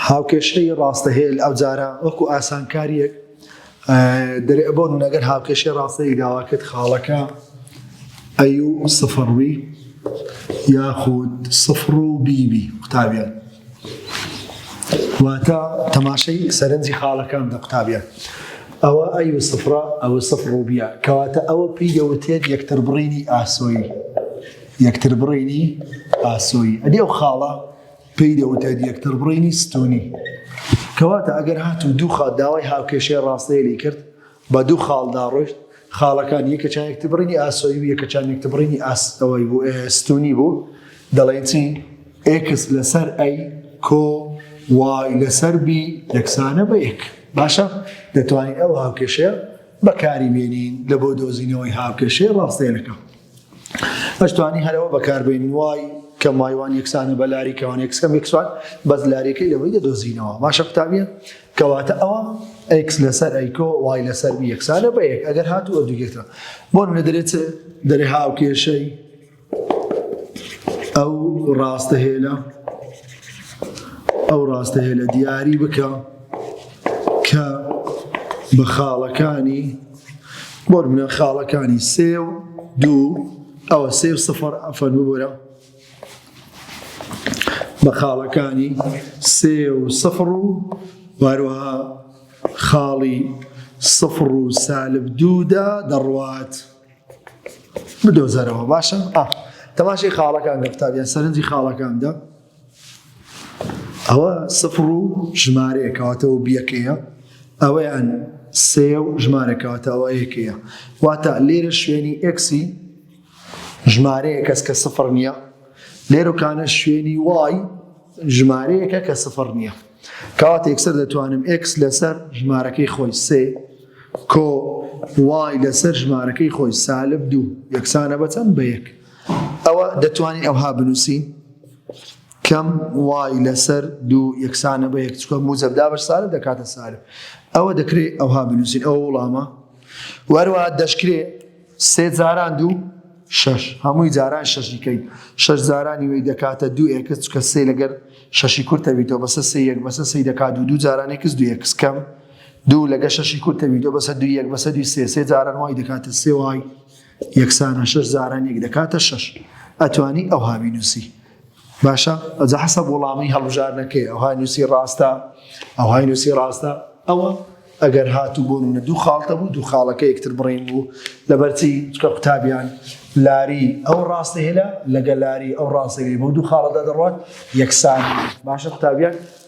هاوکێشەی ڕاستەهێل ئەوجارە وەکو ئاسانکاریەک دەرئەبۆن نەگەر هاوکێشەی ڕاستەیەک داواکرد خاڵەکە ئەیو سفڕوی یاخود سفڕ و بیبی قوتابیان واتە تەماشەی سەرنجی خاڵەکان دە قوتابیان ئەوە ئەی و سفرە ئەوە سفر و بیە کەواتە ئەوە پێی دەوتێت یەکتر بڕینی ئاسۆی یەکتر بڕینی ئاسۆی ئەدی ئەو خاڵە پێی دەوترێت یەکتربڕینی ستونی کەواتە ئەگەر هات و دوو خاڵ داوای هاوکێشەی ڕاستەیەلی کرد بە دوو خاڵدا ڕۆشت خاڵەکان یەکە چا یەکتبڕینی ئاسۆی و یەکە چان یەکتبڕینی ئاستەوەی بوو ستونی بوو دەڵێن چی ئکس لەسەر ئەی کۆ وای لەسەر بی یەکسانە بە یەک باشە دەتوانین ئەو هاوکێشەیە بەکاری بێنین لە بۆ دۆزینەوەی هاوکێشەی ڕاستەیەەکە ئەش توانی هەرەوە بەکاربین وای کە مایوان یەکسانە بە لاری کەوان یەکسکەم یەکسوان بەس لارەکەی لەوەی دەدۆزینەوە باشە قوتابیە کەواتە ئەوە ئەکس لەسەر ئەیکۆ وای لەسەر یەکسانە بە یەک ئەگەر هاتو ئەدوگێتە بۆ لە دەرێت دەرێ هاو کێشەی ئەو ڕاستە هێلە ئەو ڕاستە هێلە دیاری بکە کە بە خاڵەکانی بۆ نمونە خاڵەکانی سێ و دوو ئەوە سێ و سفر ئەفەن ببورە بە خاڵەکانی سێ و سفر و واروها خاڵی سفر و سالب دوودا دەڕوات بدۆزەرەوە باشە تەماشی خاڵەکان لە قوتابیان سەرنجی خاڵەکاندا ئەوە سفڕ و ژمارەیە کەواتە و بیەکەیە ئەوەیان سێ و ژمارە کەواتە ئەوە یەکەیە واتە لێرە شوێنی ئەکسی ژمارەیە کەس کە سفڕ نییە لێرۆکانە شوێنی وای ژمارەیەکە کە سفڕ نییە کەواتە یەکسەر دەتوانم ئەکس لەسەر ژمارەکەی خۆی سێ کۆ وای لەسەر ژمارەکەی خۆی سالب دوو یەکسانە بەچەند بە یەک ئەوە دەتوانین ئەوها بنووسین کەم وای لەسەر دوو یەکسانە بە یەک چکە موزەبدا بە سالب دەکاتە سالب ئەوە دەکرێت ئەوها بنووسین ئەو وڵامە وەروە دەشکرێت سێ جاران دوو شش هەمووی جاران شەشیکەین شش جارانی وی دەکاتە دوو ئێکس چکە سێ لەگەر شەشی کورتەویتەوە بەسە سێ یەک بەسە سی دەکات دوو دوو جارانی کەس دوو یەکس کەم دوو لەگە شەشی کورتەویتەوە بەسە دوو یەک بەسە دوی سێ سێ جاران وای دەکاتە سێ وای یەکسانە شەش زاران یەک دەکاتە شەش ئەتوانی ئەوها بینوسی باشە ئەجا حەسە وڵامی هەڵبژارنەکەی ئەوهای نووسی ڕاستە ئەوهای نووسی ڕاستە ئەوە ئەگەر هاتو بۆ منە دوو خاڵتە بوو دوو خاڵەکە یەکتر بڕین بوو لەبەرچی چکە قوتابیان لاری ئەو ڕاستە هێلا لەگە لاری ئەو ڕاستەوی بۆ دوو خاڵەدا دەڕات یەکسان باشە قوتابیان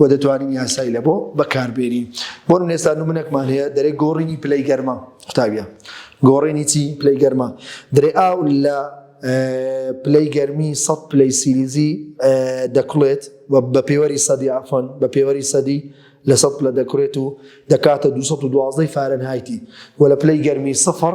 وە دەتوانین یاسای لە بۆ بەکاربێنین بۆ نێستا نمونەکمان هەیە دەرێ گۆڕینی پلەی گەرمە قوتابە گۆڕێنی چی پلەی گەرمە درێ ئاو لە پلەی گەرمی سە پلەی سیلیزی دەکڵێت بە پێوەری سەدی ئافۆن بە پێوەری سەدی لە سە پلە دەکرێت و دەکاتە 212 فارەنهایتی و لە پلەی گەرمی سفر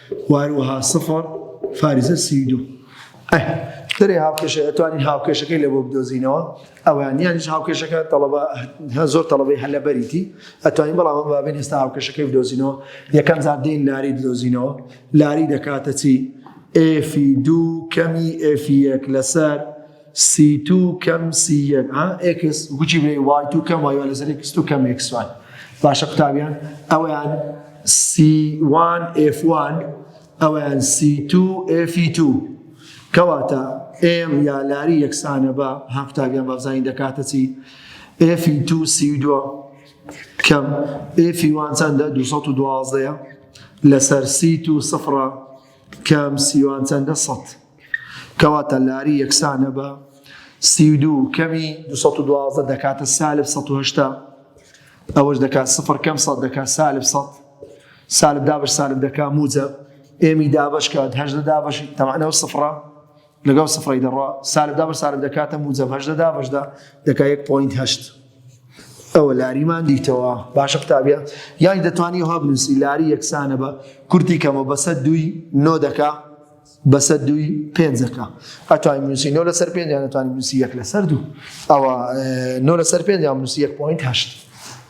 واروها سفر فارزە سی و دوو. ئەه درێ هاوکێشە ئەتوانین هاوکێشەکەی لە بۆ بدۆزینەوە ئەوان یانیش هاوکێشەکە تەڵەبە هە زۆر تەڵەبەی هەلە بەریتی ئەتوانین بەڵام ئەم بابێن ئێستا هاوکێشەکەی بدۆزینەوە یەکەم جار دین لاری بدۆزینەوە لاری دەکاتە چی ئێفی دوو کەمی ئێفی یەک لەسەر سی تو کەم سی یەک ها ئێکس گوچی بێ وای تو کەم وای لەسەر ئێکس تو کەم ئێکس وای باشە قوتابیان ئەویان سی وان ئێف وان ئەویان سی تو ئێفی تو کەواتە ئێم یا لاری یەکسانە بە ها قوتابیان بەزانین دەکاتە چی ئێفی تو سی دووە کەم ئێفی وان چەندە 2012 لەسەر سی تو سفرە کەم سیوان چەندە سەد کەواتە لاری یەکسانە بە سی و دوو کەمی دو سەد و دوازدە دەکاتە سالب سەد و هەشتا ئەوەش دەکات سفر کەم سەد دەکات سالب سەد سالب دابش سالب دەکات موجە ئێمی دابش کات هەژدە دابش تەمانەوە سفرە لەگەڵ سفڕی دەڕا سالب دابش سالب دەکاتە موجەم هەژدە دابشدا دەکات یەک پوینت هەشت ئەوە لاریمان دیتەوە باشە قوتابە یانی دەتوانانی هەبنووسی لاری یەکسانە بە کورتی کەمە بەسە دوی نۆ دەکات بەسەر دووی پێنجەکە ئەتوانین بنووسی نۆ لەسەر پێنج یان ئەتوانین بنووسی یەک لەسەر دوو ئەوە نۆ لەسەر پێنج یان بنووسی یەک پوینت هەشت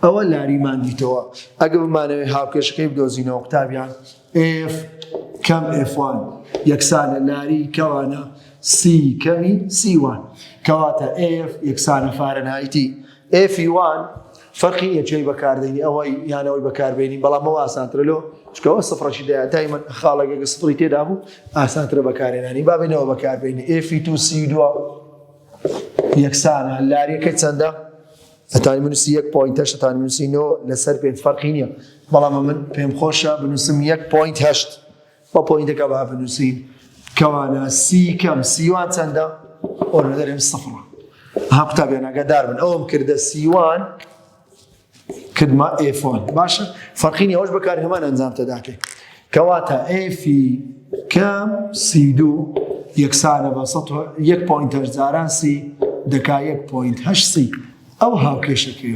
ئەوە لاریمان دیتەوە ئەگە بمانەوەی هاوکێشەکەی بدۆزینەوە قوتابیان ئف کەم ئفوان یەکسانە لاری کەوانە سی کەمی سیوان کەواتە ئف یەکسانە فارەنایتی ئێفی وان فەرقی نیە جێی بەکاردێنی ئەوەی یان ئەوەی بەکاربێنی بەڵام ئەوە ئاسانترە لۆ چکەوە سفرەشی دەیە دایمەن خاڵێکێکە سفری تێدا بوو ئاسانترە بەکارێنانی بابێنەوە بەکاربێنی ئێفی تو سی دو یەکسانە لاریەکە چەندە ئەتانی منوسی یەک پوین هەشت تانی منوسی نۆ لەسەر پێنج فەرقی نییە بەڵام من پێم خۆشە بنووسم یەک پوین هەشت بە پۆینتەکە با بنووسین کەوانە سی کەم سیوان چەندە ئۆرە دەرێن سفڕە ها قوتابیانەکە دار بن ئەوم کردە سیوان کردمە ئێفۆن باشە فەرقینی ئەوش بەکار هەمان ئەنجام تەداکەێت کەواتە ئێفی کەم سی دوو یەکسانە بە یەک پوینتەر جاران سی دەکا یەک پوینت هەشسی ئەو هاوکێشەکەی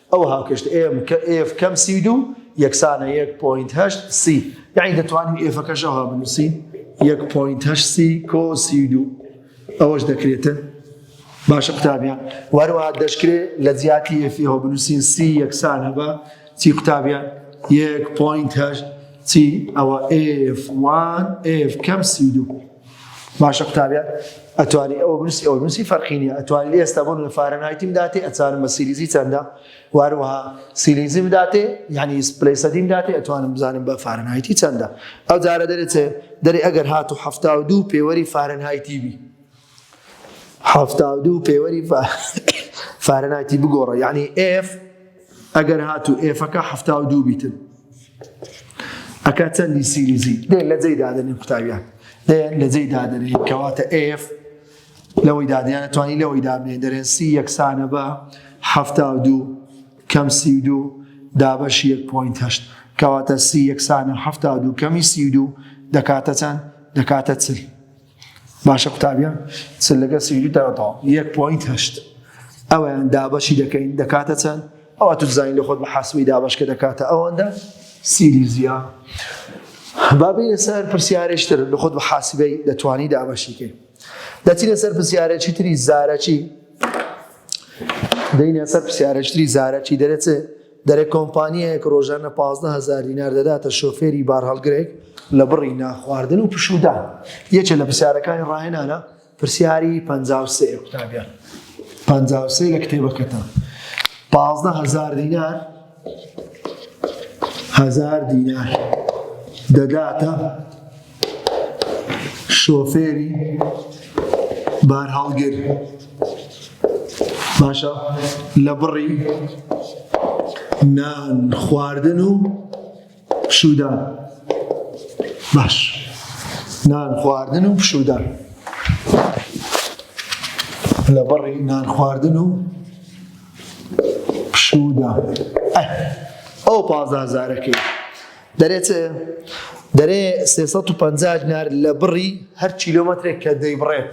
ئەو هاوکێشت ئێم کە ئێف کەم سی و دوو یەکسانە یەک پۆینت هەشت سی یعنی دەتوانین ئێفەکەش ئەوها بنووسین یەک پۆینت هەشت سی کۆ سی و دوو ئەوەش دەکرێتە باشە قوتابیان وەروە دەشکرێ لە جیاتی ئێفیەوە بنووسین سی یەکسانە بە چی قوتابیان یەک پۆینت هەشت چی ئەوە ئێف وان ئێف کەم سی و دوو باشە قوتابیان ئەتوانی ئەوە بنووسی ئەوە بنووسی فەرقی نیە ئەتوانی ئێستا بۆ لە فارەنایتیم داتێ ئەچارم بە سیریزی چەندە واروها سیلیزیم داتێ یعنی پلی سەدیم داتێ ئەتوانم بزانم بە فارەنایتی چەندە ئەو جارە دەرێت دەری ئەگەر هات و هەفتا و دوو پێوەری فارەنایتی بی هەفتا و دوو پێوەری فارەنایتی بگۆڕە یعنی ئف ئەگەر هاتو ئێفەکە حفتا و دوو بیتن ئەکا چەندی سیریزی دێ لە جێی دادنی قوتاویان دێن لە جێی دادنی کەواتە ئف لەوەی دادیانە توانی لەوەی دابێن دەرێن سی یەکسانە بە حفتا و دوو کەم سی و دوو دابەش یەک پوینت هەشت کەواتە سی یەکسانە حفتا و دوو کەمی سی و دوو دەکاتە چەند دەکاتە چل باشە قوتابیان چ لەگەر سیدی دەڕەتەوە یەک پۆینت هەشت ئەویان دابەشی دەکەین دەکاتە چەند ئەوە تو زانین لە خۆت بە حاسبی دابشکە دەکاتە ئەوەندە سیریزیا بابی لەسەر پرسیارێشتر لە خۆت بە حاسبەی دەتوانی دابەشیکەین دەچی لەسەر پرسیارێکی تری زارەکی دەینە سەر پرسیارێشتری زارەکی دەرێت دەرێ کۆمپانیایەک ڕۆژانە پازدە هەزار دینار دەداتە شۆفێری بارهەڵگرێک لە بڕی نانخواردن و پشوودان، یەکێ لە پرسیارەکانی ڕاهێنانە، پرسیاری پەنجا و سێ، قوتابیان، پەنجا و سێ لە کتێبەکەتان، پازدە هەزار دینار، هەزار دینار، دەداتە شۆفێری بارهەڵگر باشە لە بڕی نان خواردن و پشودان باش نان خواردن و پشودان لە بڕی نان خواردن و پشودان ئەو پازازارەکەی دەرێ چ؟ دەرێ سێ سەد و پەنجا دینار لە بڕی هەر کیلۆمەترێک کە دەیبڕێت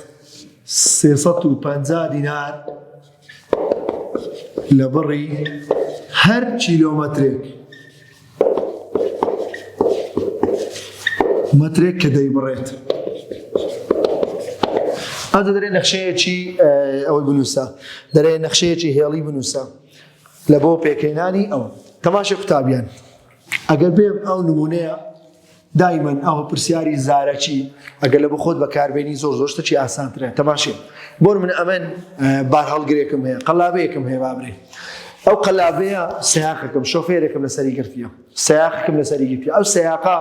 سێ سەد و پەنجا دینار لە بڕی هەر کیلۆمەترێک مەترێک کە دەیبڕێت ئەو دەرێ نەخشەیەکی ئەوەی بنووسە دەرێ نەخشەیەکی هێڵی بنووسە لە بۆ پێکەینانی ئەوە تەماشی قوتابیان ئەگەر بێم ئەو نمونەیە دایمەن ئەوە پرسیاری زارەکی ئەگەر لە بخۆت بەکاربێنی زۆر زۆر شتەکی ئاسانترە تەماشێ بۆر من ئەمن بار هەڵگرێکم هەیە قەلابەیەکم هەیە بابرێ ئەو قەلابەیە سیاقەکەم شۆفێرێکم لەسەری گرتیە سیاقەکەم لەسەری گرتی ئەو سیاقا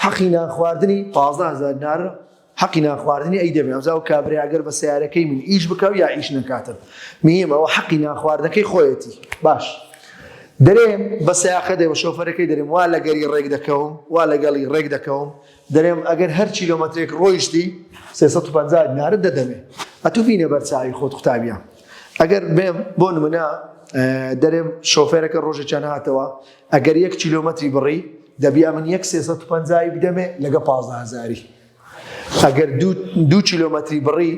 حەقی نان خواردنی پازدە هزار نارە حەقی نان خواردنی ئەی دەمێ ئەمجا ئەو کابرای ئەگەر بە سەیارەکەی من ئیش بکا و یا ئیش نەکاتن میم ئەوە حەقی نان خواردنەکەی خۆیەتی باش دەرێم بە سەیاقە دێ بە شۆفەرەکەی دەرێم وا لەگەری ڕێک دەکەوم وا لەگەڵی ڕێک دەکەوم دەرێم ئەگەر هەر کیلۆمەترێک ڕۆیشتی 350 نارد دەدەمێ ئەتو بینە بەرچوی خۆت قوتابیان ئەگەر بێم بۆ نمونە دەرێم شۆفێرەکە ڕۆژێکیان هاتەوە ئەگەر یەک کیلۆمەتری بڕی دەبی ئەمن یەک سێ سەد و پەنجایی بدەمێ لەگە پازدە هەزاری ئەگەر دوو کیلۆمەتری بڕی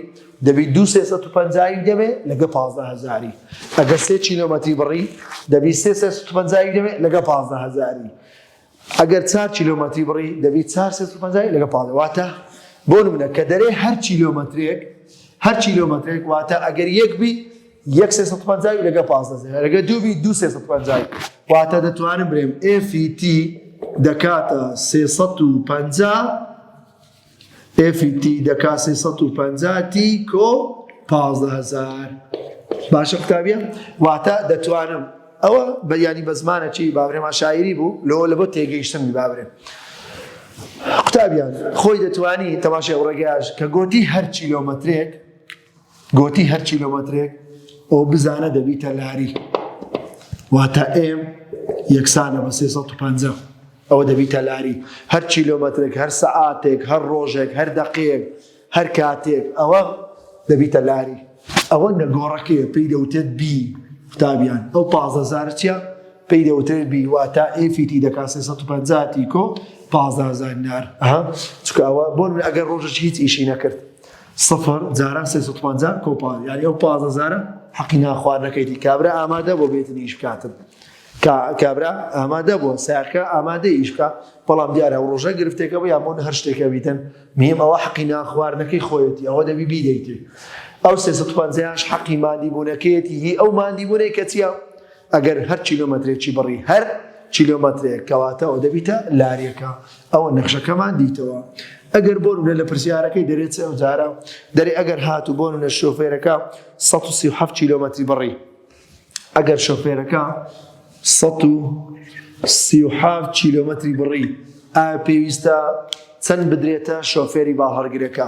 دەبی دوو سێ سەد و پەنجایی بدەمێ لەگە پازدە هەزاری ئەگەر سێ کیلۆمەتری بڕی دەبی سێ سێ سەد و پەنجایی بدەمێ لەگە پازدە هەزاری ئەگەر چار کیلۆمەتری بڕی دەبی چار سێ سەد و پەنجایی لەگە پازدە واتە بۆ نمونە کە دەرێ هەر کیلۆمەترێک هەر کیلۆمەترێک واتە ئەگەر یەک بی یەک سێ سەد و پەنجاوی لەگە پازدە زێرە لەگە دوو بی دوو سێ سەد و پەنجاوی واتە دەتوانم برێم ئێفیتی دەکاتە سێ سەد و پەنجا ئێفیتی دەکا سێ سەد و پەنجا تی کۆ پازدە هەزار باشە قوتابیە واتە دەتوانم ئەوە بە یانی بە زمانە چی بابرێمان شاعری بوو لۆ لە بۆ تێگەیشتنی بابرێ قوتابیان خۆی دەتوانی تەماشای ڕێگەیاش کە گۆتی هەر کیلۆمەترێک گۆتی، هەر کیلۆمەترێک ئۆ بزانە دەبیتە لاری، واتە ئێم یەکسانە بە سێ سەد و پەنجا، ئەوە دەبیتە لاری، هەر کیلۆمەترێک، هەر سەعاتێک، هەر ڕۆژێک، هەر دەقەیەک، هەر کاتێک، ئەوە دەبیتە لاری. ئەوە نەگۆڕەکەیە پێی دەوتێت بی، قوتابیان، ئەو پازدە زارچیە پێی دەوترێت بی، واتە ئێفی تی دەکات سێ سەد و پەنجا تی کۆ پازدە هەزار نار، ئەها، چونکە ئەوە، بۆ نمونە ئەگەر ڕۆژەکی هیچ ئیشی نەکرد، سفر جاران سێ سەد پەنجا کۆپان یاری ئەو پازە جارە حەقی ناخواردنەکەیتی کابرا ئامادە بۆ بێتن ئیش بکاتن کابرا ئامادە بووە ساکە ئامادە ئیش بکە بەڵام دیارە و ڕۆژە گرفتێکە بۆ یامۆن هەر شتێکە بیتن میم ئەوە حەقی ناخواردنەکەی خۆیەتی ئەوە دەبی بیدەیتی ئەو سێ سەد پەنجاش حەقی مادیبوونەکەیەتی هی ئەو مادیبوونەی کە چیە ئەگەر هەر کیلۆمەترێکی بڕی هەر کیلۆمەترێک کەواتە ئەوە دەبیتە لاریەکە ئەوە نەخشەکەمان دیتەوە ئەگەر بۆ نمونە لە پرسیارەکەی دەرێت چەند جارە دەرێ ئەگەر هاتو بۆ نمونە شۆفێرەکە 137 کیلۆمەتری بڕی ئەگەر شۆفێرەکە 137 کیلۆمەتری بڕی ئایا پێویستە چەند بدرێتە شۆفێری باڵهەڵگرەکە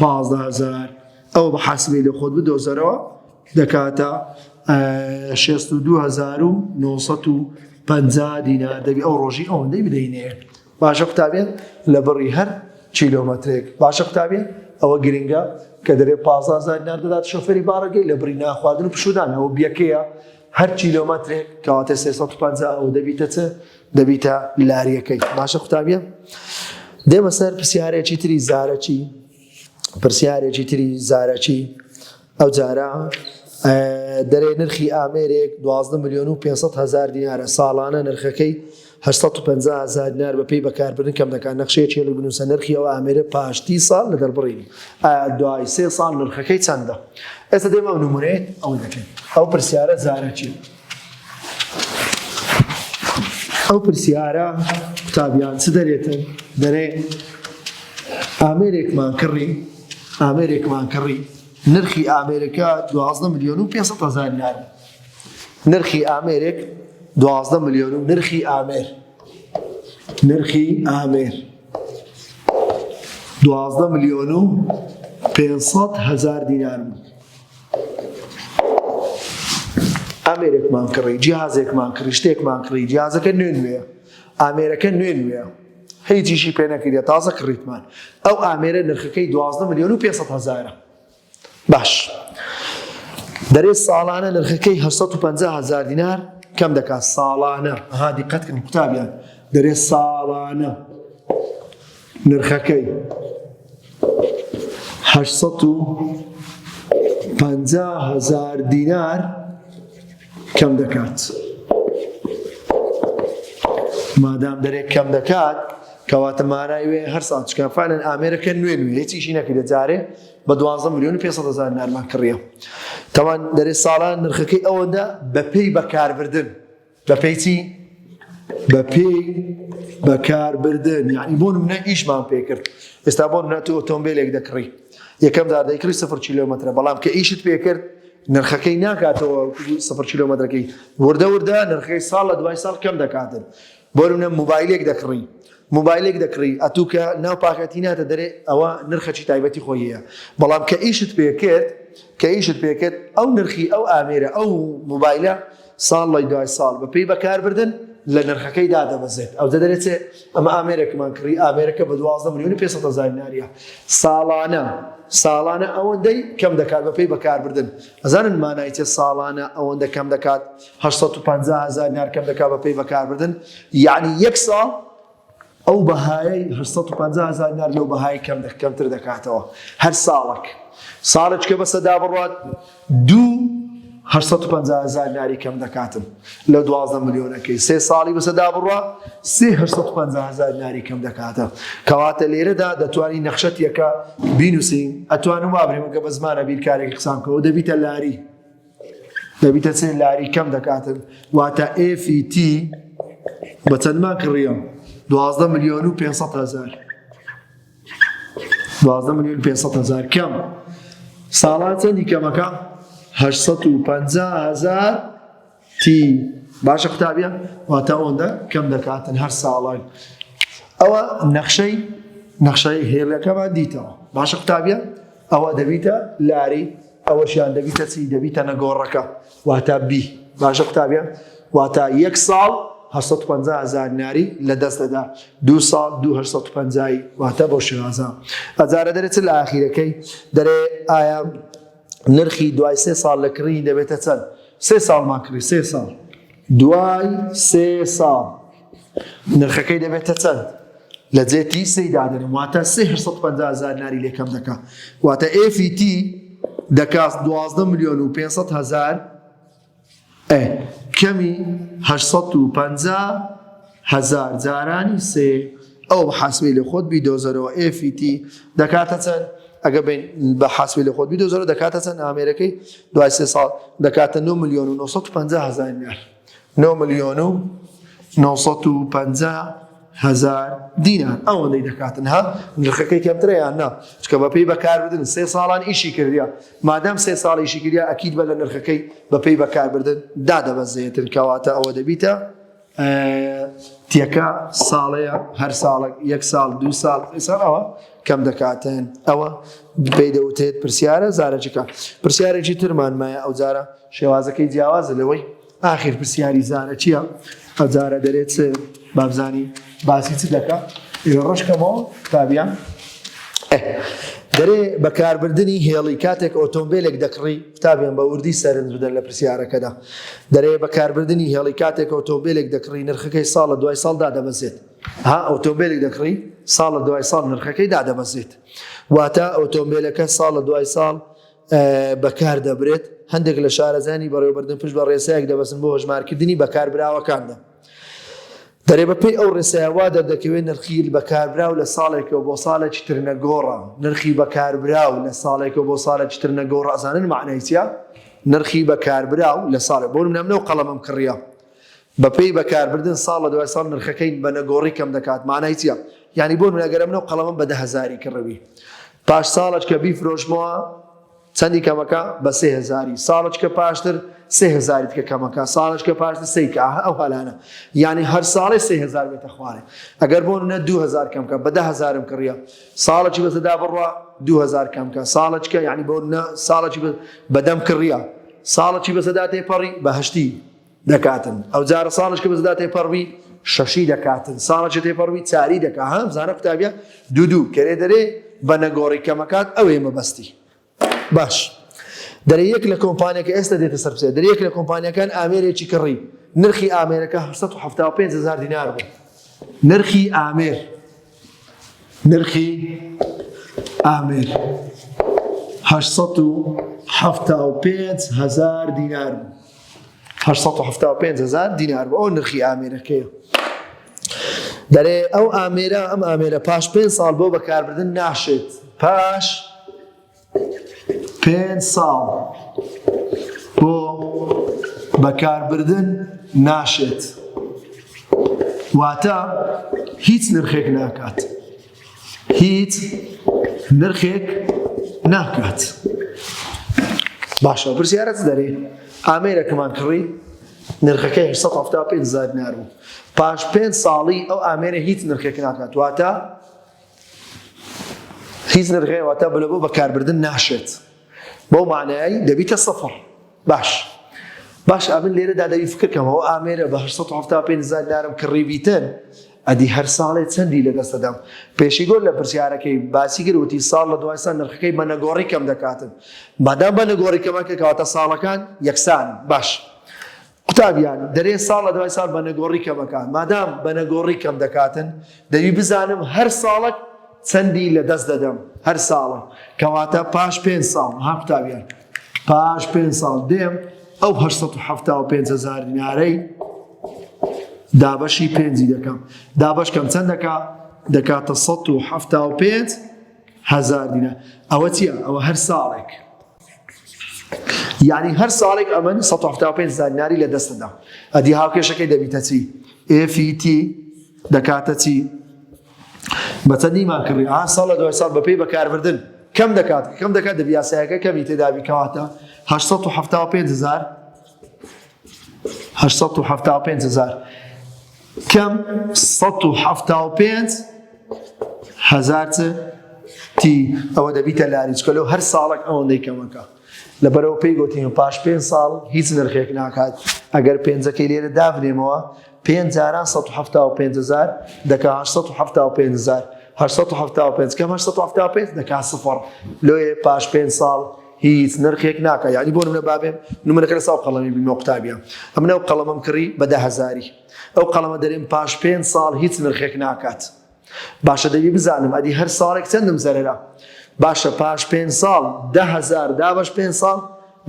پازدە هەزار ئەوە بە حاسبی لە خۆت بدۆزەرەوە دەکاتە 1950 دینا دەبی ئەو ڕۆژی ئەوەندەی بدەینێ باشە قوتابێت لە بڕی هەر کیلۆمەترێک باشە قوتابێت ئەوە گرنگە کە دەرێ پازازار ناردەدات شەفەری بارەگەی لە بڕی ناخواردن و پشودان ئەوە بیەکەیە هەر کیلۆمەترێک کەواتە 350 ئەو دەبیتە چ دەبیتە لاریەکەی باشە قوتابیە دێمە سەر پرسیارێکی تری زارەکی پرسیارێکی تری زارەکی ئەو جارە دەرێ نرخی ئامێرێک 12 میلیۆن و 500 هزار دینارە ساڵانە نرخەکەی 1950 هزار دینار بە پێی بەکاربرن کەم دەکات نەخشەیە چێلی بنووسە نرخی ئەو ئامێرە پاشتی ساڵ لە دەربڕینی دوای سێ ساڵ نرخەکەی چەندە ئێستا دێمە نمونێ ئەو دەکەین ئەو پرسیارە زارەکی ئەو پرسیارە قوتابیان چ دەرێتن دەرێ ئامێرێکمان کڕی ئامێرێکمان کڕی نرخی ئامێرەکە 12 میلیۆن و 500 هزار لار نرخی ئامێرێک 12 میلیۆن و نرخی ئامێر نرخی ئامێر 12 میلیۆن و 500 هزار دینار بوو ئامێرێکمان کڕی جیهازێکمان کڕی شتێکمان کڕی جیازەکە نوێ نوێە ئامێرەکە نوێ نوێە هیچیشی پێ نەکردە تازە کڕیتمان ئەو ئامێرە نرخەکەی دوازدە میلیۆن و 500 هزارە باش دەرێ ساڵانە نرخەکەی 1950 هزار دینار کەم دەکات ساڵانە هادی قەتکن قوتابیان دەرێ ساڵانە نرخەکەی هەشت سەد و پەنجا هەزار دینار کەم دەکات مادام دەرێک کەم دەکات کەواتە مارای وێ هەر ساڵ چکافانن ئامێرەکە نوێ نوێ هیچیشی نەکە دەجارێ بە دوازە میلیۆن پێ هزار نارمان کڕیە تاوان دەرێ ساڵان نرخەکەی ئەوەدا بەپی بەکاربردن بە پێی چی؟ بە پێی بەکاربردن یعنی بۆ منە ئیشمان پێکرد ئێستا بۆ منە تۆ ئۆتۆمبیلێک دەکڕی یەکەم دا دەیکڕی سفر کیلومترە بەڵام کە ئیشت پێکرد نرخەکەی ناکاتەوە سفر کیلومترەکەی وردە وردە نرخەکەی ساڵ لە دوای ساڵ کەم دەکاتن بۆ منە موبایلێک دەکڕی موبایلێک دەکڕی ئەتووکە ناو پاکەتی ناتە دەرێ ئەوە نرخەچی تایبەتی خۆیە بەڵام کە ئیشت پێکرد کە ئیشت پێکرد ئەو نرخی ئەو ئامێرە ئەو موبایلە ساڵ لە دوای ساڵ بە پێی بەکاربردن لە نرخەکەی دادەبەزێت ئەو دەدەێت ئەمە ئامێرێکمان کڕی ئامێرەکە بە دوازدە ملیۆن پێ هزار ناریە ساڵانە ساڵانە ئەوەندەی کەم دەکات بە پێی بەکاربردن ئەزانن مانایتە ساڵانە ئەوەندە کەم دەکات 1950 هزار نار کەم دەکات بە پێی بەکاربردن یعنی یەک ساڵ ئەو بەهایەی هەشت سەد و پەنجا هەزار دینار لەو بەهای کەم کەمتر دەکاتەوە هەر ساڵک ساڵێک کە بەسە دابڕات دوو 850 هزار دیناری کەم دەکاتن لە 12 ملیۆنەکەی سێ ساڵی بەسەدا بڕە 350 هزار دیناری کەم دەکاتە کەواتە لێرەدا دەتوانین نەخشەتیەکە بینوسین ئەتوانم وابرێمەکە بە زمانە بیرکارێکی قسان کەەوە دەبیتە لاری دەبیتە سێ لاری کەم دەکاتن واتە ئێفی تی بە چەندمان کڕیەوە دوازدە ملیۆن و 500 هزار دوازدە ملیۆن 500 هزار کەم ساڵان چەندی کەمەکە 850 هزار تی باشە قوتابیە واتە ئەوەندە کەم دەکاتن هەر ساڵان ئەوە نەخشەی نەخشەی هێڵەکەمان دیتەوە باشە قوتابیە ئەوە دەبیتە لاری ئەوەشیان دەبیتە چی دەبیتە نەگۆڕەکە واتا بی باشە قوتابیان واتا یەک ساڵ 1950 هزار ناری لە دەست دەدا دو ساڵ 1950 واتە بۆ شێوازە ئەجارە دەرێت لە ئاخیرەکەی دەرێ ئایا نرخی دوای سێ ساڵ لە کڕی دەبێتە چەند سێ ساڵمان کڕی سێ ساڵ دوای سێ ساڵ نرخەکەی دەبێتە چەند؟ لە جێ تی سێی دادەنێم واتە سێ هەشت سەد و پەنجا هەزار ناری لێ کەم دەکا واتە ئێفی تی دەکا دوازدە ملیۆن و پێنج سەد هەزار ئێ کەمی هەشت سەد و پەنجا هەزار جارانی سێ ئەو بە حاسبی لە خۆت بیدۆزەرەوە ئێفی تی دەکاتە چەند؟ ئەگە بین بە حاسبی لە خۆت بیدۆزەرەوە دەکاتە چەند ئامێرەکەی دوای سێ ساڵ دەکاتە 9 ملیۆن و 950 هەزار نار نۆ ملیۆن و نۆ سەد و پەنجا هەزار دینار ئەوەندەی دەکاتن ها نرخەکەی کەمترە یان نا چکە بەپێی بەکاربردن سێ ساڵان ئیشی کردیا مادەم سێ ساڵیشی کریا ئەکیید بە لە نرخەکەی بەپێی بەکاربردن دادەبەزێتن کەواتە ئەوە دەبیتە تێکە ساڵەیە هەر ساڵێک یەک ساڵ دو ساڵ ساڵەوە کەم دەکاتن ئەوە پێی دەوتێت پرسیارە زارەجەکە پرسیارێکی ترمان مایە ئەو جارە شێوازەکەی جیاوازە لەوەی ئاخیر پرسیاری زارە چییە هەزارە دەرێت بابزانی باسی چ دەکە ئێوە ڕشکەمەوە تابیان دەرێ بەکاربردننی هێڵی کاتێک ئۆتۆمبیلێک دەکڕی قوتابیان بە وردی سەرنج بدەن لە پرسیارەکەدا دەرێ بەکاربردننی هێڵی کاتێک ئۆتۆمبیلێک دەکڕی نرخەکەی ساڵە دوای ساڵدا دەبەزێت ها ئۆتۆمبیلێک دەکڕی ساڵە دوای ساڵ نرخەکەی دادەبەزێت واتە ئۆتۆمبیلەکە ساڵە دوای ساڵ بەکار دەبرێت، هەندێک لە شارەزایانی بەڕێوەبردن پشت بە ڕێسایەک دەبەستن بۆ هەژمارکردنی بەکاربراوەکاندا. دەرێ بەپێی ئەو ڕێسایە وا دەردەکەوێت نرخی بەکاربراو لە ساڵێکەوە بۆ ساڵێکی تر نەگۆڕە. نرخی بەکاربراو لە ساڵێکەوە بۆ ساڵێکی تر نەگۆڕە ئەزانن مەعنای چیە؟ نرخی بەکاربراو لە ساڵێک بۆ نمونە من ئەو قەڵەمەم کڕیە بە پێی بەکاربردن ساڵ لە دوای ساڵ نرخەکەی بە نەگۆڕی کەم دەکات مانای چیە یانی بۆ نمونە گەر ئەمن ئەو قەڵەمەم بە دە هەزاری کڕبی پاش ساڵەش کە بیفرۆشمەوە چەندی کەمەکە بە سێ هەزاری ساڵەش کە پاشتر سێ هەزاری کە کەمەکە ساڵەش کە پاشتر سەی کە ئەو هەلانە یانی هەر ساڵێ سێ هەزار بێتە خوارێ ئەگەر بۆ نە دو هەزار کەمکە بە دە هەزارم کڕە ساڵەی بەسەدا بڕە دو هەزار کەمکە ساڵەچکە یعنی بۆ نە ساڵەی بەدەم کڕە ساڵەی بەسەدا تێپەڕی بەهشتی دەکاتن ئەوجارە ساڵش کە بەزدا تێپەڕبی شەشی دەکاتن ساڵەکە تێپەڕبی چاری دەکات هەم زانە قوتابە دوو دوو کەێ دەرێ بە نەگۆڕی کەمەکات ئەوێ مەبەستی باش دەرێ یەک لە کۆمپانیەکە ئێستا دێتە سەرسێ دەرێ یەک لە کۆمپانیەکان ئامێرێکی کڕی نرخی ئامێرەکە 1970 هزار دینار بوو نرخی ئامێر نرخی ئامێر هەشت سەد و حەفتا و پێنج هەزار دینار بوو هەشت سەد و حەفتا و پێنج هەزار دینار بوو ئەو نرخی ئامێرەکەیە دەرێ ئەو ئامێرە ئەم ئامێرە پاش پێنج ساڵ بۆ بەکاربردن ناشێت پاش پێنج ساڵ بۆ بەکاربردن ناشێت واتە هیچ نرخێک ناکات هیچ نرخێک ناکات باشە پرسیارەت دەرێ ئامێرەکەمان کڕی نرخەکە 1970 دینار بوو پاش پێ ساڵی ئەو ئامێرە هیچ نرخێک ناکات واتە هیچ نرخێ واتە بلە بۆ بەکاربردن ناشێت بەو معنایی دەبیتە سەفر باش باش ئەمن لێرەدا دەوی فکرکەمەوە ئامێرە بە 1970 دارم کڕیبیتن ئەدی هەر ساڵێ چەندی لە دەستەدەم پێشی گۆر لە پرسیارەکەی باسی گروتی ساڵ لە دوایسان نرخەکەی بە نەگۆڕی کەم دەکاتن بادام بە نەگۆڕی کەمەکە کەواتە ساڵەکان یەکسان باش قوتابیان، دەرێ ساڵ لە دوای ساڵ بەنەگۆڕی کەمەکان، مادام بەنەگۆڕی کەم دەکاتن، دەبی بزانم هەر ساڵەک چەندی لە دەست دەدەم، هەر ساڵەک، کەواتە پاش پێنج ساڵ، ها قوتابیان، پاش پێنج ساڵ دێم ئەو هەشت سەد و حەفتا و پێنج هەزار دینارەی دابەشی پێنجی دەکەم، دابەش کەم چەند دەکا؟ دەکاتە سەد و حەفتا و پێنج هەزار دینار، ئەوە چیە؟ ئەوە هەر ساڵێک. یانی هەر ساڵێک ئەمن سەد و حەفتا و پێنج زانیاری لە دەست دەدەم ئەدی هاوکێشەکەی دەبیتە چی FET دەکاتە چی بەچەندی مان کڕی ئا ساڵ لە دوای ساڵ بەپێی بەکاربردن کەم دەکات کەم دەکات دەبیاسایەکە کەمی تێدابی کەواتە 1970 هزار هەشت سەد و حەفتا و پێنج هەزار کەم سەد و حەفتا و پێنج هەزار چ تی ئەوە دەبیتە لاریچکە لەو هەر ساڵک ئەوەندەی کەمەکە لەبەرەوە پێی گوتیم پاش پێ ساڵ هیچ نرخێک ناکات ئەگەر پێنجەکەی لێرە دابنێمەوە پێنج جاران سەد و حەفتا و پێنج هەزار دەکا هەشت سەد و حەفتا و پێنج هەزار هەشت سەد و حەفتا و پێنج کەم هەشت سەد و حەفتا و پێنج دەکا سفر لۆیێ پاش پێنج ساڵ هیچ نرخێک ناکە یعنی بۆ نمونە بابێ نمونەکە لە ساو قەڵەمی بینمە قوتابیان ئەمن ئەو قەڵەمەم کڕی بە دە هەزاری ئەو قەڵەمە دەرێن پاش پێنج ساڵ هیچ نرخێک ناکات باشە دەبی بزانم ئەدی هەر ساڵێک چەندم زەرەرە باشە پاش پێ ساڵ ده هزار دابش پێ ساڵ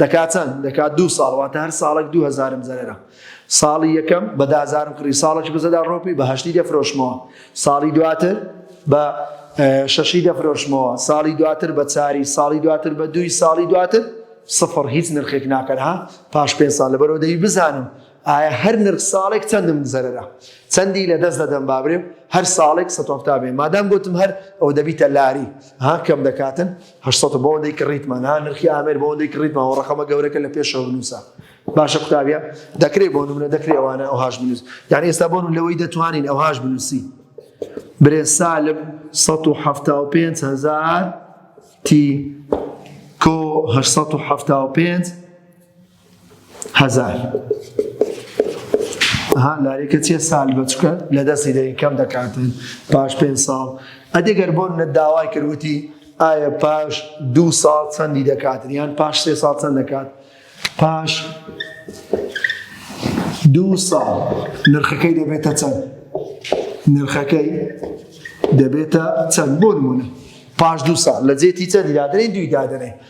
دەکات چەند دەکات دو ساڵ واتە هەر ساڵێک دو هزارم زەرەرە ساڵی یەکەم بەدازارم کڕی ساڵێکی بزەدا ڕۆپی بەهشتی دەفرۆشمەوە ساڵی دواتر بە شەشی دەفرۆشمەوە ساڵی دواتر بە چاری ساڵی دواتر بە دوی ساڵی دواتر سفر هیچ نرخێک ناکەرها پاش پێ ساڵ لەبەرەوە دەی بزانم ئایە هەر نرخ ساڵێک چەندم زەرەرە چەندی لە دەست دەدەم بابرێم هەر ساڵێک سەد و حەفتا بێ مادام گوتم هەر ئەو دەبیتە لاری ها کەم دەکاتن هەشت سەد بۆ ئەوەندەی کڕیتمان ها نرخی ئامێر بۆ ئەوەندەی کڕیتمان و ڕەقەمە گەورەکە لە پێشەوە بنووسە باشە قوتابیە دەکرێت بۆ نمونە دەکرێت ئەوانە ئەوهاش بنووس یعنی ئێستا بۆن لەوەی دەتوانین ئەوهاش بنووسی برێ سالب 1970 هزار تی کۆ 1970 هەزار ها لاریکە چیە سال بچکە لە دەستی دەین کەم دەکاتن پاش پێ ساڵ ئەدیگەر بۆن نە داوای کردوتی ئایا پاش دو ساڵ چەندی دەکاتن یان پاش سێ ساڵ چەند دەکات پاش دو ساڵ نرخەکەی دەبێتە چەند نرخەکەی دەبێتە چەند بۆ نمونە پاش دو ساڵ لە جێتی چەندی دادرێن دوی دادرێن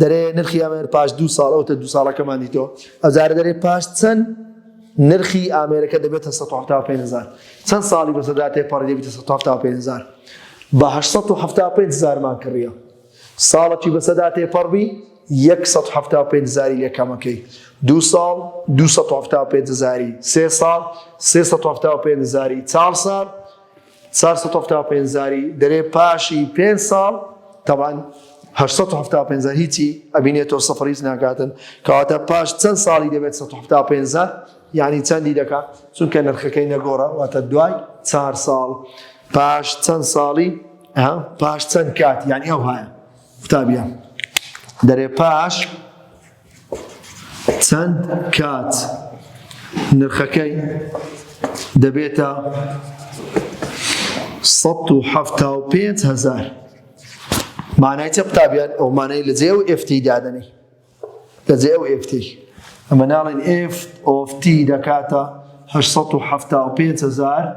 دەرێ نرخی ئامێر پاش دوو ساڵ ئەوتە دوو ساڵەکەمان دیتەوە ئەزار دەرێ پاش چەند نرخی ئامێرەکە دەبێتە 1950 چەند ساڵی بەسەدا تێپەڕی دەبێتە 1950 بە 1970 زارمان کڕیە ساڵەکی بەسەدا تێپەڕبی 1970 زاری لە کەمەکەی دو ساڵ 1970 زاری سێ ساڵ 1970 زاری چاڵ ساڵ چوار سەد و حەفتا و پێنج زاری دەرێ پاشی پێنج ساڵ تەبان هەشت سەد و حەفتا و پێنج زار هیچی ئەبینێتەوە سەفر هیچ ناکاتن کەواتە پاش چەند ساڵی دەبێت سەد و حەفتا و پێنج زار یعنی چەندی دەکا چونکە نرخەکەی نەگۆڕە واتە دوای چار ساڵ پاش چەند ساڵی ها پاش چەند کات یعنی ئەو هاە قوتابیان دەرێ پاش چەند کات نرخەکەی دەبێتە 175 هزار مانای چە قوتابیان ئەو مانای لە جێ و ئفتی دادەنی لە جێ و ئفتی ئەمە ناڵێن ئفت ئۆفتی دەکاتە 1970 هزار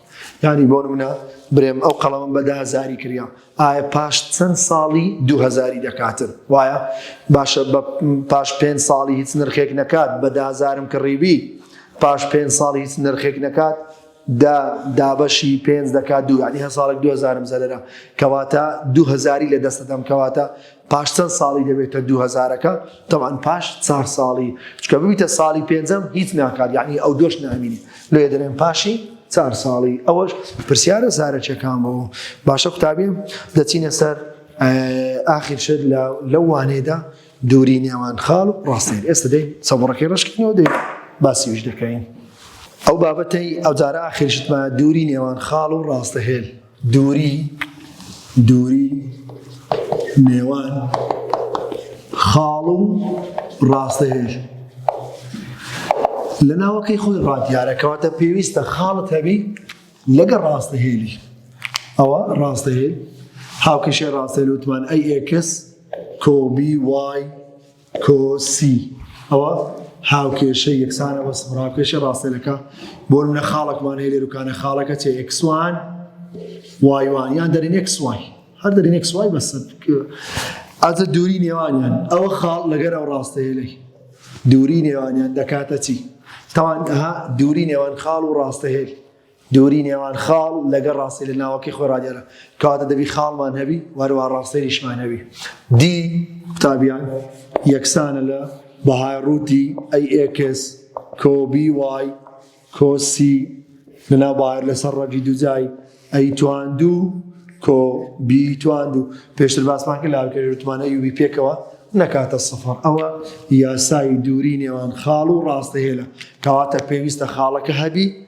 یانی بۆ نمونە برێم ئەو قەڵەمم بە دازاری کریا ئایا پاش چەند ساڵی دوهزاری دەکاتن وایە باشە بە پاش پێ ساڵی هیچ نرخێک نەکات بە دازارم کڕیبی پاش پێ ساڵی هیچ نرخێک نەکات دا دابەشی پێنج دەکات دوو ینی هە ساڵێک دوهزارم زەررە کەواتە دوهزاری لە دەستەدەم کەواتە پاش چەند ساڵی دەبێتە دوو هەزارەکە تەوان پاش چار ساڵی چکە ببیتە ساڵی پێنجەم هیچ ناکات یعنی ئەو دۆش نامینی لێ دەرێن پاشی چار ساڵی ئەوەش پرسیارە زارەکیەکان بەوە باشە قوتابی دەچینە سەر ئاخر شت لە لەو وانێدا دووری نێوان خاڵ و ڕاستێن ئێستا دەین سەبڕەکەی ڕشکنەوە دەین باسیویش دەکەین ئەو بابەتەی ئەوجارە ئاخرشتمە دووری نێوان خاڵ و ڕاستەهێل دووری دووری نێوان خاڵ و ڕاستەهێژ لە ناوەکەی خۆی ڕادیارەکەواتە پێویستە خاڵت هەبی لەگە ڕاستەهێلی ئەوە ڕاستەهێل هاوکەشێ ڕاستەهێل وتمان ئەی ئێکس کۆبی وای کۆ سی ئەوە هاوکێشەی یەکسانە بەس هاوکێشە ڕاستێنەکە بۆ منە خاڵکمان هەیە لێروکانە خاڵەکە چێ ئەکسوان وایوان یان دەرین ئەکسوای هەر دەرین ئەکسوای بەسە ئازە دووری نێوانیان ئەوە خاڵ لەگەر ئەو ڕاستەیە لەی دووری نێوانیان دەکاتە چی تاوان دووری نێوان خاڵ و ڕاستە هێل دووری نێوان خاڵ لەگەڵ ڕاستەی لە ناوەکەی خۆی ڕادیارە، کەواتە دەبی خاڵمان هەبی و هەروەها ڕاستەیریشمان هەبی. دی قوتابیان یەکسانە لە بەهای ڕووتی ئەی ئێکس کۆ بی وای کۆ سی لە ناو بەهای لەسەر ڕەگی دووجای ئەی تواندوو کۆ بی تواندوو. پێشتر باسمان کرد لە هاوکێری ڕووتمان ئەی و بی پێکەوە نەکاتە سفر. ئەوە یاسای دووری نێوان خاڵ و ڕاستەیە لە کەواتە پێویستە خاڵەکە هەبی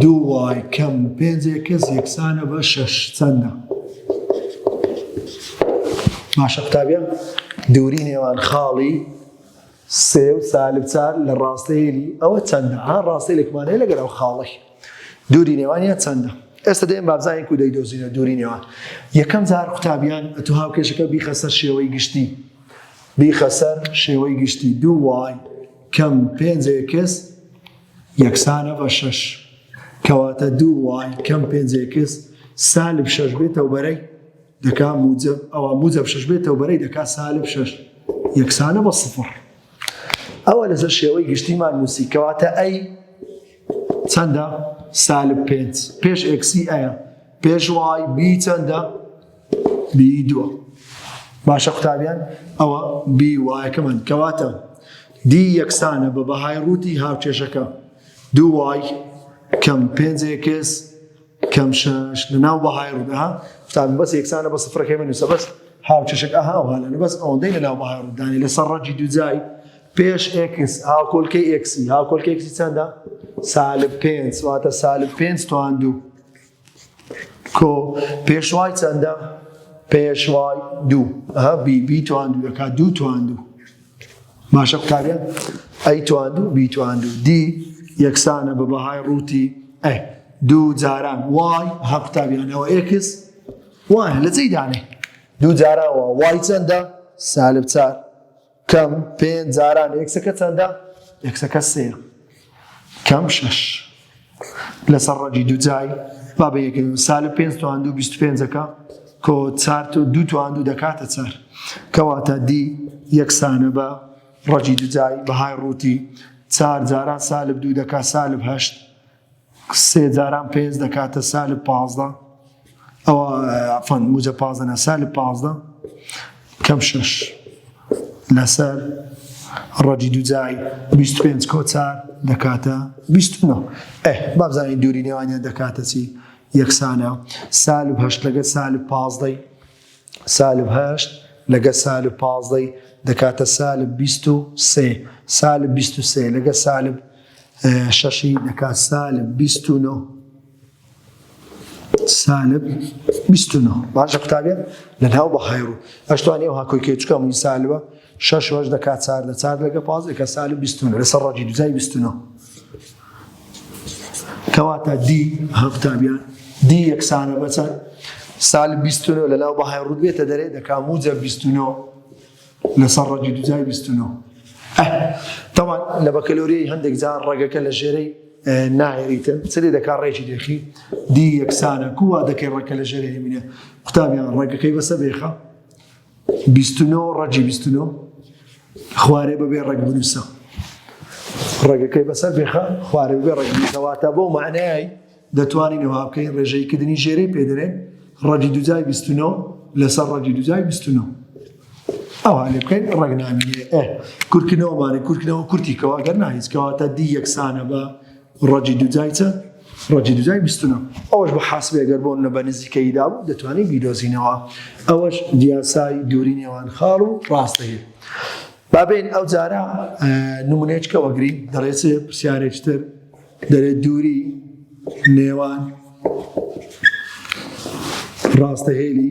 دوو وای کەم و پێنج ئێکس یەکسانە بە شەش چەندە؟ باشە قوتابیان دووری نێوان خاڵی سێ و سالب چار لە ڕاستەیەلی ئەوە چەندە ها ڕاستی لەکمانەیە لەگەر ئەو خاڵی دووری نێوانە چەندە ئێستا دێن بابزانین کو دەیدۆزینە دووری نێوان یەکەم جار قوتابیان ئەتو هاوکێشەکە بیخە سەر شێوەی گشتی بیخە سەر شێوەی گشتی دوو وای کەم پێنج ئێکس یەکسانە بە شەش کەواتە دوو وای کەم پێنج ئێکس سالب شەش بێتەوە بەرەی دەکا موجب ئەوە موجب شەش بێتەوە بەرەی دەکا سالب شەش یەکسانە بە سفر ئەوە لەسەر شێوەی گشتیمان نووسی کەواتە ئەی چەندە سالب پێنج پێش ئێکسی ئەیە پێش وای بی چەندە بی دووە باشە قوتابیان ئەوە بی وایەکەمان کەواتە دی یەکسانە بە بەهای ڕووتی هاوکێشەکە دوو وای کەم پێنج ئێکس کەم شەش لە ناو بەهای ڕوودەها قوتابی بەس یەکسانە بە سفرەکەی بنووسە بەس هاوکێشەک ئەها وهالەنە بەس ئەوەندەی لە ناو بەهای ڕوودانی لەسەر ڕەجی دووجای پێش ئێکس هاوکۆلکەی ئێکسی هاوکۆلکە ئێکسی چەندە سالب پێنج واتە سالب پێنج توان دوو کۆ پێشوای چەندە؟ پێشوای دوو ها بی بی تواندو دەکا دوو تواندو باشە قوتابیان ئەی تواندو بی تواندو دی یەکسانە بە بەهای ڕووتی ئە دوو جاران وای ها قوتابیانەوە ئێکس وای لە جێی دانێ دوو جاران وای چەندە سالب چار کەم پێنج جاران ئێکسەکە چەندە؟ ئێکسەکە سێیە کەم شەش لەسەر ڕەگی دووجای با بە یەکەوە سالە پێ توان دوو بیست پێنجەکە کۆ چار و دوو توان دوو دەکاتە چار کەواتە دی یەکسانە بە ڕەگی دوجای بەهای ڕووتی چار جاران سالب دوو دەکات سالب هەشت سێ جاران پێنج دەکاتە سالب پازدە ئەوە عفان موجە پازدە نە سالب پازدە کەم شش لەسەر ڕەجی دوجای 25 کۆچار دەکاتە 29 بابزانین دووری نێوانیان دەکاتە چی یەکسانە سالب هەشت لەگە سالب پازدەی سالب هەشت لەگە سالب پازدە ی دەکاتە سالب بیست و سێ، سالب بیست و سێ لەگە سالب شەش ی دەکات سالب بیست و نۆ. سالب بیست و نۆ باشە قوتابیە لەناو بەهای ڕوو ئەشتوانی ئەو هاکۆی کێ چکە موی سالبە شەش وەش دەکات چاردە چار لەگە پاز دەکە سالب بیست و نۆ لەسەر ڕەجی دوزای بیست و نۆ کەواتە دی هەفتا بیا دی یەکسانە بەچەند سالب 29 لە ناو بەهای ڕوود بێتە دەرێ دەکا موجە 29 لەسەر ڕەگی دوجای 29 تەوان لە بەکەلۆریی هەندێک جار ڕەگەکە لە ژێرەی نایریتە چلی دەکا ڕێکی دێخی دی یەکسانە کووا دەکەی ڕەکە لە ژێرە هێمینە قوتابیان ڕێگەکەی بەسە بێخە بیست و نۆ ڕەگی بیست و نۆ خوارێ بەبێ ڕەگ بنووسە ڕێگەکەی بەسەر بێخە خوارێ بێ ڕەگ بنووسەواتە بۆ معنای دەتوانین ئەوها بکەین ڕێژەیکردنی ژێرەی پێدرێن ڕەگی دوجای بیست و نۆ لەسەر ڕەگی دوجای بیست و نۆ ئەوها لێ بکەین ڕەگنامیێ کورکنەوەمانە کورکنەوە کورتیکەوە گەر ناهیچکەواتە دی یەکسانە بە ڕەجی دوجای چە؟ ڕەجی دوجای بیست و نۆ. ئەوەش بۆ حاسبێ گەر بۆ نە بە نزیکەیی دا بوو دەتوانین بیدۆزینەوە. ئەوەش یاسای دووری نێوان خاڵ و ڕاست دەگرێ. با بێین ئەو جارە نمونەیەچکە وەگرین دەڵێ چ پرسیارێک تر دەرێ دووری نێوان ڕاستەهێلی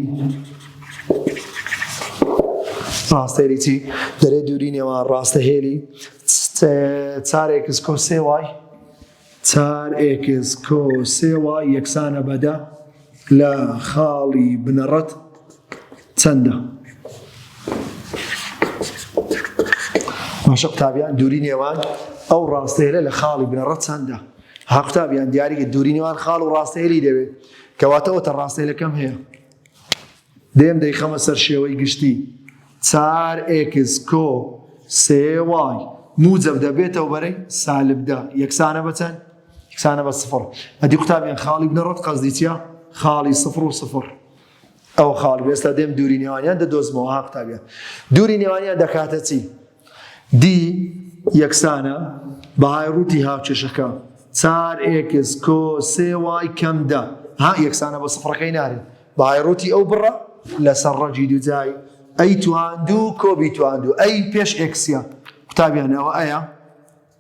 ڕاستێریی دەرێ دووری نێوان ڕاستەهێلی چار ئێکس کۆ سێ وای چار ئێکس کۆ سێ وای یەکسانە بە دە لە خاڵی بنەڕەت چەندە؟ باشە قوتابیان دووری نێوان ئەو ڕاستەیەلە لە خاڵی بنەڕەت چەندە؟ ها قوتابیان دیاریکە دووری نێوان خاڵ و ڕاستەیەلی دەوێت کەواتە ئەوتە ڕاستەیەلەکەم هەیە دێم دەیخەمە سەر شێوەی گشتی چار ئێکس کۆ سێ وای موجەب دەبێتەوە بەرەی سالب دە یەکسانە بە چەند؟ یەکسانە بە سفڕ ئەدی قوتابیان خاڵی بنەڕەت قەزدی چیە؟ خاڵی سفڕ و سفڕ ئەو خاڵ ئێستا دێم دووری نێوانیان دەدۆزمەوە ها قوتابیان دووری نێوانیان دەکاتە چی؟ دی یەکسانە بەهای ڕووتی هاوکێشەکە چار ئێکس کۆ سێ وای کەم دە ها یەکسانە بە سفڕەکەی نارێت بەهای ڕووتی ئەو بڕە لەسەر ڕەجی دوجای ئەی تواندوو کۆبی تواندوو ئەی پێش ئێکسیا قوتابیانەوە ئەیە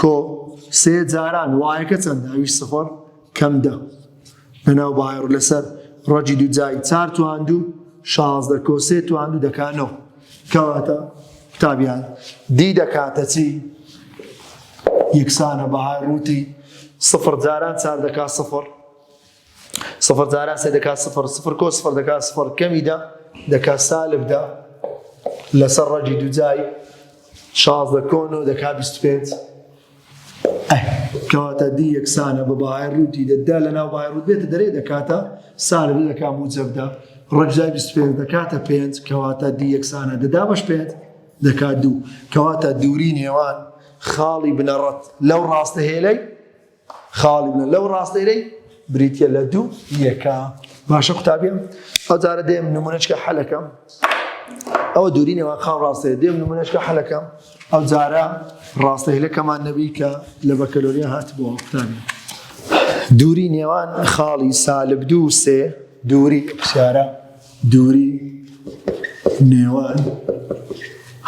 کۆ سێ جاران وایەکە چەندە ئەویش سفر کەم دە لەناو باەڕ لەسەر ڕەجی دوجای چار تواندو شازدە کۆ سێ تواندو دەکانەوە کەواتە تابیان دی دەکاتە چی یەکسانە بەهای ڕووتی سفر جاران چار دەکات سفر سفر جاران سێ دەکات سفر سفر کۆ سفر دەکات سفر کەمی دە دەکات سالب دە لەسەر ڕەجی دوجای شازدە کۆن و دەکات بیست پێنج کەواتە دی یەکسانە بە بەهای ڕووتی دەدا لە ناو بای ڕوت بێتە دەرێ دەکاتە سالب دەکات موجەبدا ڕەجای بیست پێنج دەکاتە پێنج کەواتە دی یەکسانە دەدا بەش پێنج دەکات دوو کەواتە دووری نێوان خاڵی بنەڕەت لەو ڕاستە هێلەی خاڵی بنە لەو ڕاستەیرەی بریتە لە دوو یەکە باشە قوتابیم ئەوجارە دێم نمونەچکە حەلەکەم ئەوە دووری نێوە خاڵ ڕاستەیە دێم نمونەچکە حەلەکەم ئەو جارە ڕاستەهلەکەمان نەبی کە لە بەکەلۆریە هات بۆ قوتابیم دووری نێوان خاڵی سالب دوو سێ دووری پرسیارە دووری نێوان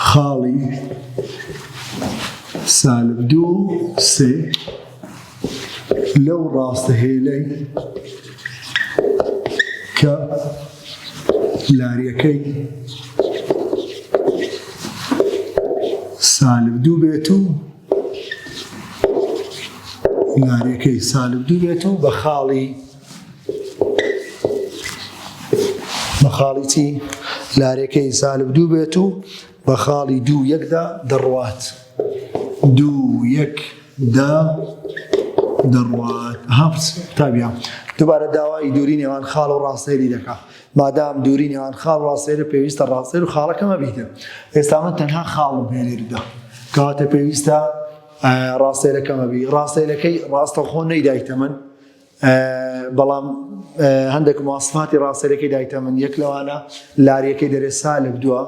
خاڵی سالب دوو و سێ لەو ڕاستە هێلەی کە لاریەکەی سالب دوو بێت و لاریەکەی سالب دوو بێت و بە خاڵی بە خاڵی چی لارێکەی سالب دوو بێت و بە خاڵی دوو یەکدا دەڕوات دوو یەک دا دەڕوات هەفت تابیا دوبارە داوای دووری نێوان خاڵ و ڕاستێری دەکا مادام دووری نێوان خاڵ ڕاستێرە پێویستە ڕاستێر و خاڵەکەمە بیتە ئێستا من تەنها خاڵ و بێنێردا کەواتە پێویستە ڕاستێرەکەمە بی ڕاستێرەکەی ڕاستەخۆ نەیدایتە من بەڵام هەندێک مواصفاتی ڕاستەیلەکەی دایتە من یەک لەوانە لاریەکەی دەرێ سالب دووە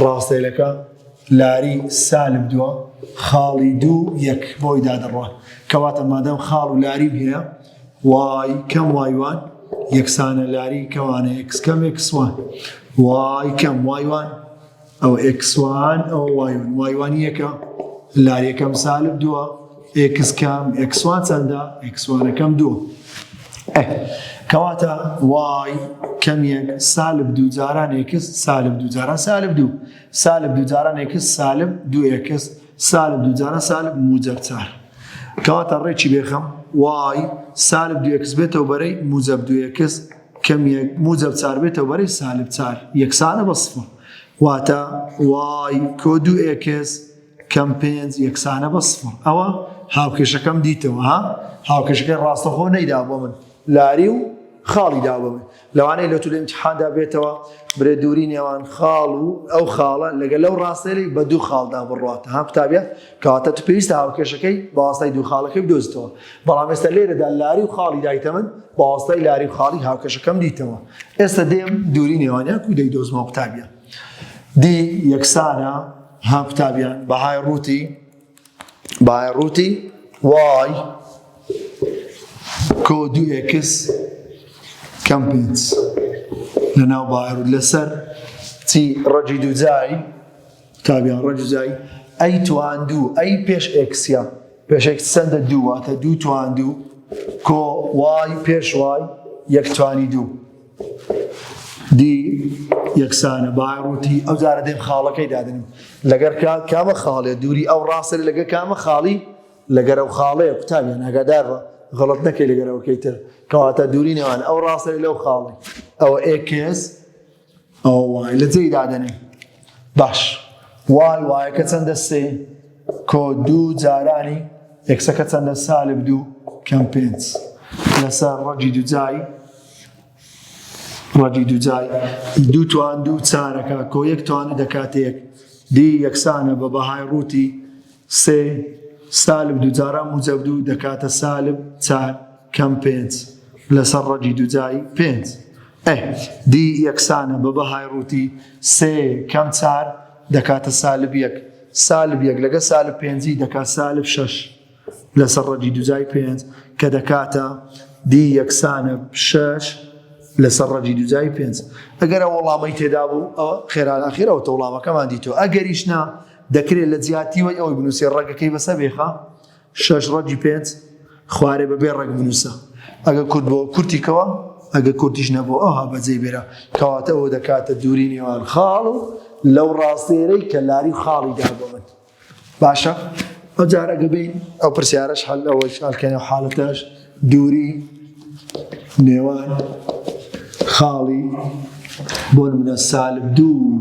ڕاستەیلەکە لاری سالب دووە خاڵی دوو یەک بۆی دادڕوە کەواتە مادەم خاڵ و لاری هەیە وای کەم وایوان یەکسانە لاری کەوانە یەکسکەم یەکسوان وای کەم وایوان ئەو ئێکس وان ئەو وایون وایوان یەکە لار یەکەم سالب دووە ئێکس کام ئێکس وان چەندە ئێکس وانەکەم دووە کەواتە وای کەمیەک سالب دوو جاران ئێکس سالب دوو جاران سالب دوو سالب دوو جاران ئێکس سالب دوو ئێکس سالب دوو جاران سالب موجەب چار کەواتە ڕێکی بێخەم وای سالب دوو ئێکس بێتەوە بەرەی موجەب دوو ئێکس کەمیەک موجەب چار بێتەوە بەرەی سالب چار یەکسانە بە سفر واتە وای کۆ دوو ئێکس کەم پێنج یەکسانە بە سفر ئەوە هاوکێشەکەم دیتەوە ها هاوکێشەکەی ڕاستەخۆ نەیدا بۆ من لاری و خاڵی دابم لەوانەیە لە تولە امتحاندا بێتەوە برێ دووری نێوان خاڵ و ئەو خاڵە لەگەل لەو ڕاستێری بە دوو خاڵدا بڕاتە ها قوتابە کەواتە تو پێویستە هاوکێشەکەی بەواستای دوو خاڵەکەی بدۆزیتەوە بەڵام ئێستا لێرەدا لاری و خاڵی دایتە من بەواستای لاری و خاڵی هاوکێشەکەم دیتەوە ئێستا دێم دووری نێوانیان کو دەی دۆزمەوە قوتابیان دی یەکسانە ها قوتابیان بەهای ڕووتی بەهای ڕووتی وای کۆ دوو ئێکس کەم پێنج لەناو باڕ لەسەر چی ڕەجی دووجایی تابیان ڕەجزای ئەی تواندوو ئەی پێش ئێکسیا پێش ئێکس چەندە دوو واتە دوو تواندوو کۆ وای پێش وای یەک توانی دوو دی یەکسانە باڕوتی ئەو جارە دێم خاڵەکەی دادنم لەگەر کات کامە خاڵێ دووری ئەو ڕاستە لەگە کامە خاڵی لەگەر ئەو خاڵەیە قوتابیان ناگادارڕە غڵت نەکەی لەگەرەوەکەی تر کەواتە دووری نێوان ئەو ڕاستەی لەو خاڵی ئەوە ئێکس ئەوە وای لە جێی دادەنێ باش وای وایەکە چەندە سێ کۆ دوو جارانی یەکسەکە چەندە سالب دوو کەم پێنج لەسەر ڕەگی دوجای ڕەگی دوجای دوو توان دوو چارەکە کۆ یەک توانی دەکاتێک دی یەکسانە بە بەهای ڕووتی سێ، سالب دووجارە موجەب دوو دەکاتە سالب چار کەم پێنج لەسەر ڕەگی دووجای پێنج. ئه دی یەکسانە بە بەهای ڕووتی سێ کەم چار دەکاتە سالب یەک، سالب یەک لەگەڵ سالب پێنجی دەکات سالب شەش لەسەر ڕەگی دووجای پێنج کە دەکاتە دی یەکسانە شەش لەسەر ڕەگی دووجای پێنج. ئەگەر ئەو وەڵامەی تێدا بوو ئەوە خێرا ئاخیر ئەوەتە وڵامەکەمان دیتووە ئەگەریش نا دەکرێ لە جیاتی وەی ئەوەی بنووسێ ڕەگەکەی بەسە بێخە شەش ڕەگی پێنج خوارێ بە بێ ڕەگ بنووسە ئەگە کورد بۆ کورتی کەوە ئەگە کوردیش نەبوو ئەوها بەجێ بێرە کەواتە ئەوە دەکاتە دووری نێوان خاڵ و لەو ڕاستێرەی کە لاری خاڵی دابەوەن باشە ئەجارە گەبین ئەو پرسیارش هەل ئەوە شالکەێ و حالەتەش دووری نێوان خاڵی بۆ منە سالب دوو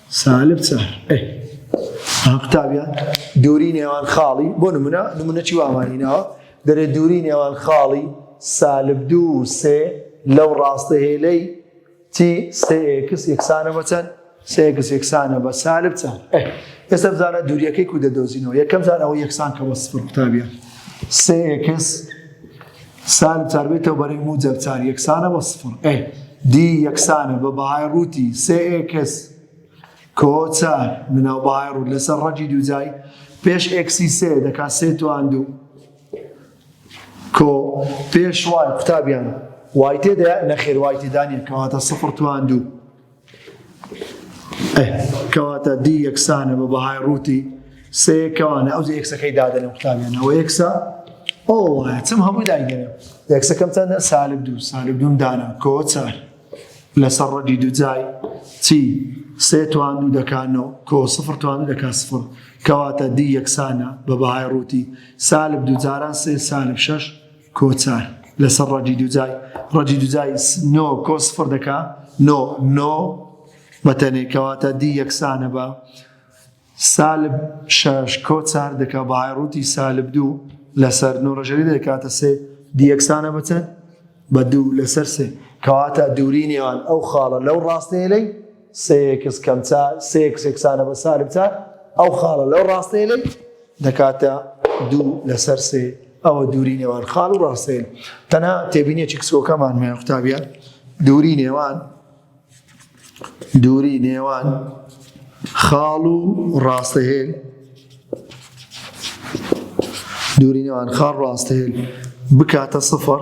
سالب سهر ئه ها قوتابیا دووری نێوان خاڵی بۆ نمونە نمونەی وامانی ناوە دەرێ دووری نێوان خاڵی سالب دوو سێ لەو ڕاستە هێلەی تی سێکس یەکسانە بەچەند سێکس یەکسانە بە سالب چەند ئێستا بزانە دووریەکەی کو دەدۆزینەوە یەکەم زانەوە یەکسان کە بە سفر قوتابیە سێکس سالب چار بێ تەو بەرەی موجەب چار یەکسانە بە سفر ئێ دی یەکسانە بە بەهای ڕووتی سێ ئێکس کۆ چار مناو بەهای ڕووت لەسەر ڕەجی دووجای پێش ئێکسی سێ دەکات سێ توان دوو کۆ پێش وای قوتابیان وای تێدا نەخێر وای تێدانە کەواتە سفر توان دوو کەواتە دی یەکسانە بە بەهای ڕووتی سێ کەوانە ئەو یەکسەکەی دادە لەم قوتابیانەوە یەکسە ئەو وایە چم هەمووی داگەێ یەکسەکەم چەندە سالب دوو سالب دوم دانا کۆچار لەسەر ڕەدی دوجای چی سێ توان دوو دەکانەوە کۆ سفر توان دەکات سفر کەواتە دی یەکسانە بە بەهای ڕووتی سالب دوجاران سێ سالب شش کۆچار لەسەر ڕەجی دوجای ڕەجی دوجای نۆ کۆ سفر دەکا نۆ نۆ بەتەنێ کەواتە دی یەکسانە بە سالب شش کۆ چار دەکا بەهای ڕووتی سالب دوو لەسەر نۆ ڕژەری دەکاتە سێ دی یەکسانە بەچەند بە دوو لەسەر سێ کەواتە دووری نێوان ئەو خاڵە لەو ڕاستەیە لەی سێ ئێکس کەم چار سێ ئێکس یەکسانە بە سالب چار ئەو خاڵە لەو ڕاستەیەی دەکاتە دوو لەسەر سێ ئەوە دووری نێوان خاڵ و ڕاستەیە تەنها تێبینێکی کسۆکەمان مێ قوتابە دووری نێوان دووری نێوان خاڵ و ڕاستەهێن دووری نێوان خاڵ ڕاستەهێن بکاتە سفر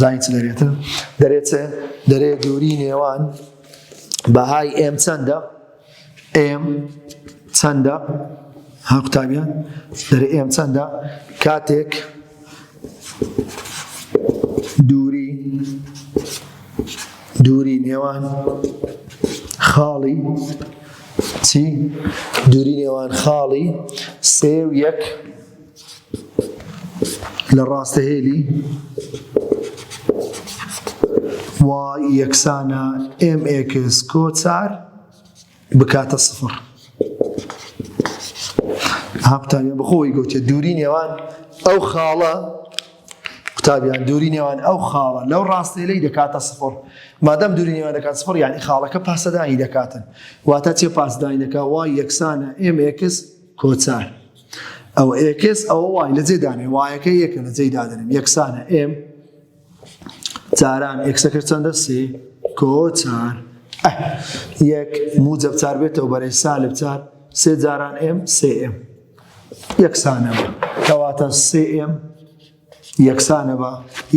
زانی چ دەرێتن دەرێت چێ دەرێ دووری نێوان بەهای ئێم چەندە ئێم چەندە ها قوتابیان دەرێ ئێم چەندە کاتێک دووری دووری نێوان خاڵی چی دووری نێوان خاڵی سێ و یەک لە ڕاستە هێلی y یەکسانە mx کۆ چار بکاتە سفر ها قوتابیان بەخۆی گوتێ دووری نێوان ئەو خاڵە قوتابیان دووری نێوان ئەو خاڵە لەو ڕاستێلەی دەکاتە سفر مادەم دووری نێوان دەکات سفر یعنی خاڵەکە پاسەدانی دەکاتن واتە چێ پاسدانی دەکات وای یەکسانە mx کۆچار ئەو ئێکس ئەوە وای لە جێ دانێ وایەکە یەکە لە جێی دادنم یەکسانە ئێم جاران ئێکسەکە چەندە سێ کۆچار یەک موجب چار بێتەوە بەرەی سالب چار سێ جاران ئێم سێ ئێم یەکسانەوە کەواتە سێ ئێم یەکسانە بە،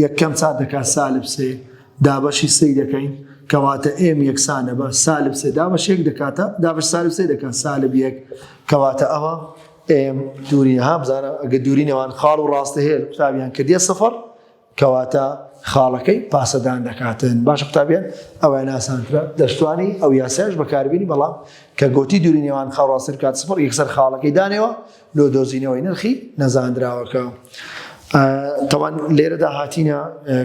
یەک کەم چا دەکات سالب سێ، دابەشی سێی دەکەین، کەواتە ئێم یەکسانە بە، سالب سێ دابەش یەک دەکاتە، دابەش سالب سێ دەکات سالب یەک، کەواتە ئەمە ئێم دووری ها بزانە ئەگە دووری نێوان خاڵ و ڕاستە هەیە قوتابیان کردیە سفر کەواتە خاڵەکەی پاسەدان دەکاتن باشە قوتابیان ئەوە ناسانترە دەشتوانی ئەو یاسایش بەکاربیینی بەڵام کە گوتی دووری نێوان خاڵڕاستر کات سفر یەکسەر خاڵەکەی دانێەوە لۆ دۆزینەوەی نرخی نەزاندراوەکە. تاوان لێرەدا هاتینە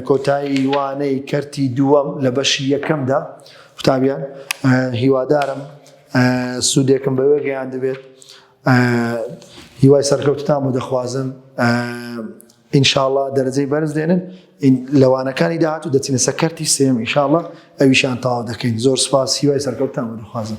کۆتایی وانەی کەرتی دووەم لە بەشی یەکەمدا قوتابیان هیوادارم سوودێکم بەوێ گەیان دەبێت هیوای سەرکەوتتان بۆ دەخوازم ئینشاءله دەرەجەی بەرز دێنن لەوانەکانی داهات و دەچینە سەکەرتی سێم ئینشاءله ئەویشان تاوا دەکەین زۆر سپاس هیوای سەرکەوتتان بۆ دەخوازم